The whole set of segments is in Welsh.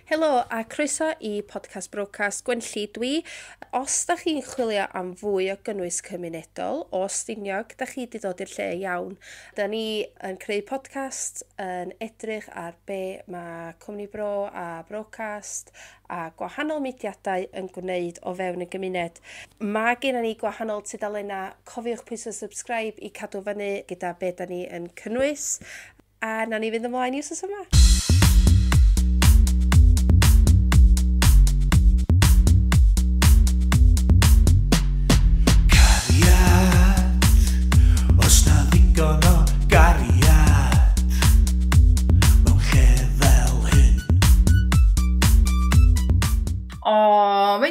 Helo a croeso i Podcast Brocas Gwenlli dwi. Os da chi'n chwilio am fwy o gynnwys cymunedol o Stiniog, da chi wedi dod i'r lle iawn. Da ni yn creu podcast yn edrych ar be mae Cwmni Bro a Brocast a gwahanol mudiadau yn gwneud o fewn y gymuned. Mae gennym ni gwahanol tudalennau, cofiwch pwysau subscribe i cadw fyny gyda be da ni yn cynnwys. A na ni fynd ymlaen i wrth yma.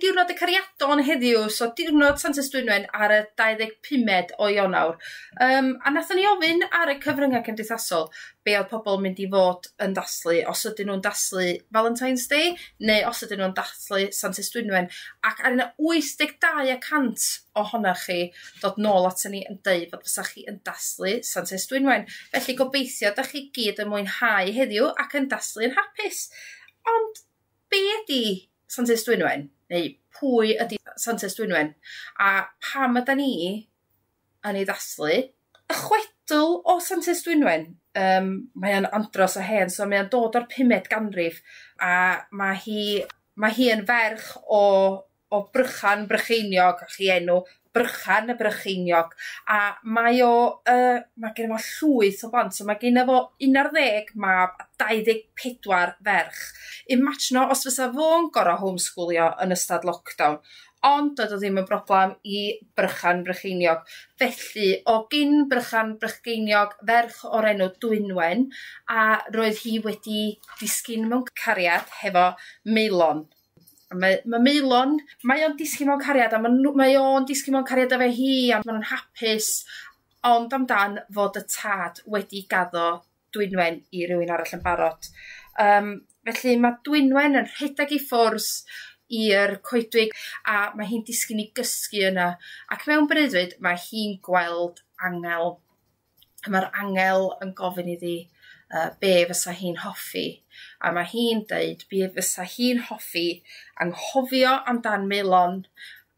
diwrnod y cariadon heddiw, so diwrnod Sant Ystwynwen ar y 25 o Ionawr. Yym a nathon ni ofyn ar y cyfrynga cymdeithasol be' odd pobol yn mynd i fod yn dathlu os ydyn nw'n dathlu Valentine's Day neu os ydyn nw'n dathlu Santes Dwynwen ac a' 'na wyth deg dau y cant ohonoch chi dod nôl aton ni yn deud fod fysa chi yn dathlu Santes Dwynwen felly gobeithio dach chi gyd yn mwynhau heddiw ac yn dathlu yn hapus. Ond be' ydi Santes Dwynwen neu pwy ydi Santes Dwynwen a pam ydan ni yn ei ddathlu, y chwedl o Santes Dwynwen, yym mae o'n andros o hen so mae o'n dod o'r pumed ganrif a ma' hi ma' hi yn ferch o o Brychan Brycheiniog, o'ch chi enw Brychan y Brycheiniog a mae o yy ma' gen fo llwyth o blant so ma' gena fo un ar ddeg mab a dau ddeg pedwar ferch. Imajino os fysa fo'n gor'o' homeschoolio yn ystod lockdown. Ond doedd o ddim yn broblem i Brychan Brycheiniog. Felly, o gyn Brychan Brycheiniog, ferch o'r enw Dwynwen, a roedd hi wedi disgyn mewn cariad hefo Maelon. A mae, mae Maelon, mae o'n disgyn mewn cariad, a mae, mae o'n disgyn mewn cariad efo hi, a maen nhw'n hapus, ond amdan fod y tad wedi gaddo dwynwen i rywun arall yn barod. Yym felly ma' dwynwen yn rhedeg i ffwrs i'r coedwig a ma' hi'n disgyn i gysgu yna ac mewn breuddwyd mae hi'n gweld angel. A ma'r angel yn gofyn iddi yy be' fysa hi'n hoffi a ma' hi'n deud be' fysa hi'n hoffi anghofio amdan Maelon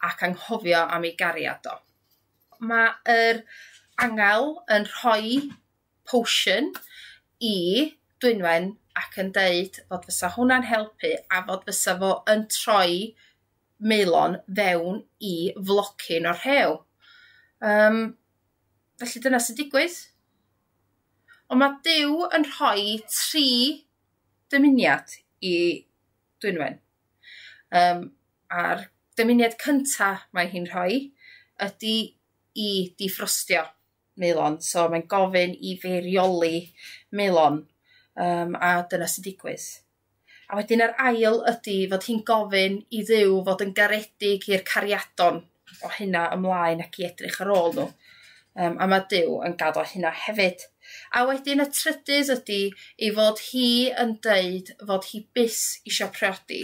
ac anghofio am ei gariad o. Ma' yr angel yn rhoi potion i Dwynwen ac yn deud fod fysa hwnna'n helpu a fod fysa fo yn troi Maelon fewn i flocyn o'r rhew. Um, felly dyna sy'n digwydd. Ond mae Dyw yn rhoi tri dymuniad i Dwynwen. Um, a'r dymuniad cyntaf mae hi'n rhoi ydy i diffrostio. melon so mae'n gofyn i fi reoli melon yym a dyna sy'n digwydd. A wedyn yr ail ydi fod hi'n gofyn i Dduw fod yn garedig i'r cariadon o hynna ymlaen ac i edrych ar ôl nhw. Um, a mae Duw yn gaddo hynna hefyd. A wedyn y trydydd ydy ei fod hi yn deud fod hi byth isio priodi,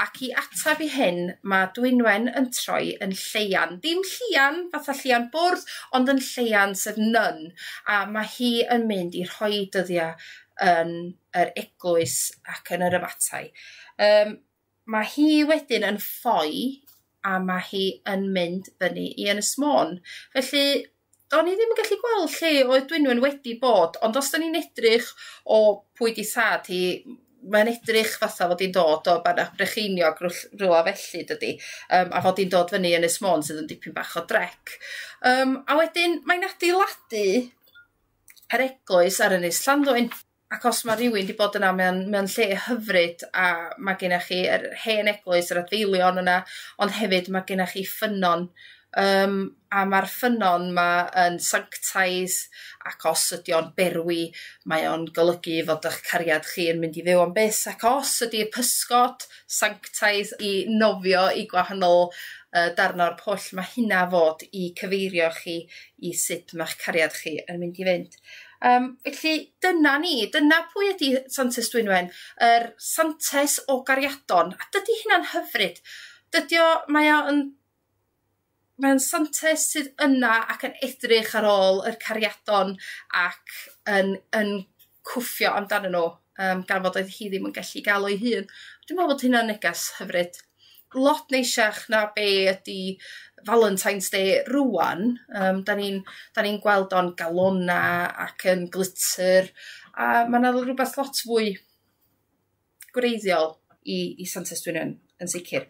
ac i ateb i hyn mae Dwynwen yn troi yn Lleuan, dim Llian fatha Llian Bwrdd, ond yn Lleuan sef nun, a mae hi yn mynd i rhoi dyddiau yn yr eglwys ac yn yr abatai. Um, Mae hi wedyn yn ffoi a mae hi yn mynd fyny i Ynys Môn. Felly, do'n i ddim yn gallu gweld lle oedd Dwynwen wedi bod, ond os do'n i'n edrych o pwy di thad hi, mae'n edrych fatha fod hi'n dod o Bannau Brycheiniog rhywle felly dydy, um, a fod hi'n dod fyny Ynys Môn sydd yn dipyn bach o drec. Um, a wedyn mae'n adeiladu yr eglwys ar Ynys Llanddwyn. ac os mae rhywun wedi bod yna mewn, mewn lle hyfryd a mae gennych chi yr hen eglwys, yr adfeilion yna, ond hefyd mae gennych chi ffynnon um, a mae'r ffynnon yma yn sanctaidd ac os ydy o'n berwi mae o'n golygu fod eich cariad chi yn mynd i fyw am byth ac os ydy pysgod sanctaidd i nofio i gwahanol uh, darn o'r pwll mae hynna fod i cyfeirio chi i sut mae'ch cariad chi yn mynd i fynd. Yym felly dyna ni, dyna pwy ydi Santes Dwynwen, yr Santes o gariadon, a dydi hynna'n hyfryd. Dydi o... Mae o yn mae o'n Santes sydd yna ac yn edrych ar ôl yr cariadon ac yn yn cwffio amdanyn nhw yym gan fod oedd hi ddim yn gallu ga'l o 'i hun. Dwi me'wl bod hynna'n neges hyfryd. lot neisiach na be' ydi Valentine's Day rŵan yym 'dan ni'n 'dan ni'n gweld o'n galona ac yn glitter a ma' 'na l- rwbath lot fwy gwreiddiol i i Santes Dwynwen yn sicir.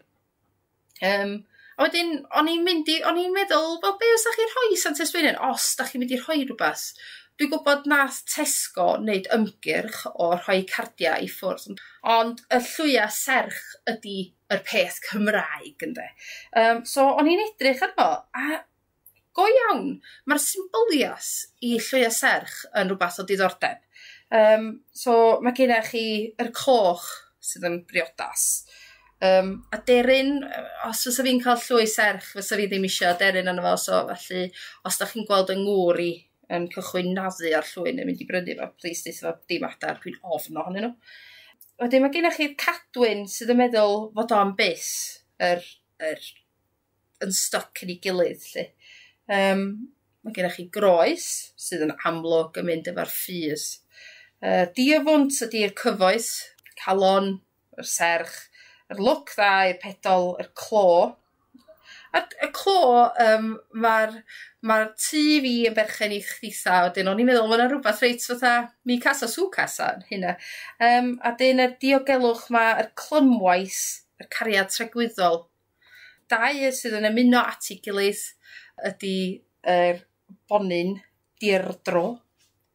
Yym a wedyn o'n i'n mynd i o'n i'n meddwl wel be' fysach chi rhoi i Santes Dwynwen os dach chi'n mynd i rhoi rwbath Dwi'n gwybod nath Tesco wneud ymgyrch o rhoi cardiau i ffwrdd ond ond y llwya serch ydi yr peth Cymraeg ynde? Yym so o'n i'n edrych arno a go iawn ma'r symbylias i llwya serch yn rwbath o diddordeb yym so ma' genna chi yr coch sydd yn briodas yym aderyn yy os fysa fi'n ca'l llwy serch fysa fi ddim isio aderyn arno fo so felly os dach chi'n gweld yng ngŵr i yn cychwyn naddu ar llwyni yn mynd i brynu fo plîs deutha fo dim adar dwi'n ofn ohonyn nhw. Wedyn ma' gennoch chi'r cadwyn sydd yn meddwl fod o am byth yr yr yn styc yn ei gilydd 'lly. Yym ma' gennoch chi groes sydd yn amlwg yn mynd efo'r ffydd. Yy diafwnt ydi'r cyfoes, calon yr serch, yr lwc dda i'r pedol, yr clo. A'r y clo yym ma'r ma'r tŷ fi yn berchen i chditha a wedyn o'n i'n meddwl ma' 'na rwbath reit fatha mi casa su casa yn hynna. Yym a 'dyn yr diogelwch 'ma yr clymwaith yr cariad tregwyddol. Dau sydd yn ymuno at 'i gilydd ydi yr bonyn Deirdro.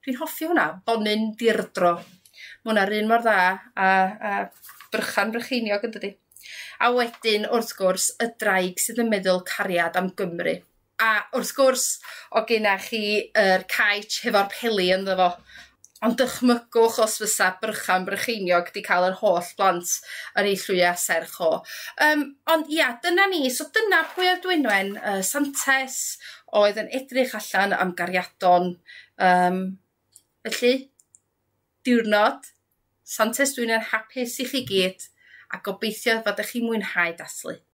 Dwi'n hoffi hwnna, Bonyn Deirdro. Mae hwnna'r un mor dda a, a Brychan Brycheiniog yn dydy. A wedyn, wrth gwrs, y draig sydd yn meddwl cariad am Gymru. A wrth gwrs, o gyna chi yr caetch hefo'r peli ynddo fo. Ond dychmygwch os fysa Brychan Brycheiniog 'di cael yr holl blant yn ei llwya serch o. Um, ond ia, dyna ni. So dyna pwy oedd Dwynwen uh, Santes, oedd yn edrych allan am gariadon. Um, felly, diwrnod, Santes Dwynwen hapus i chi gyd, a gobeithio fod ych chi'n mwynhau dathlu.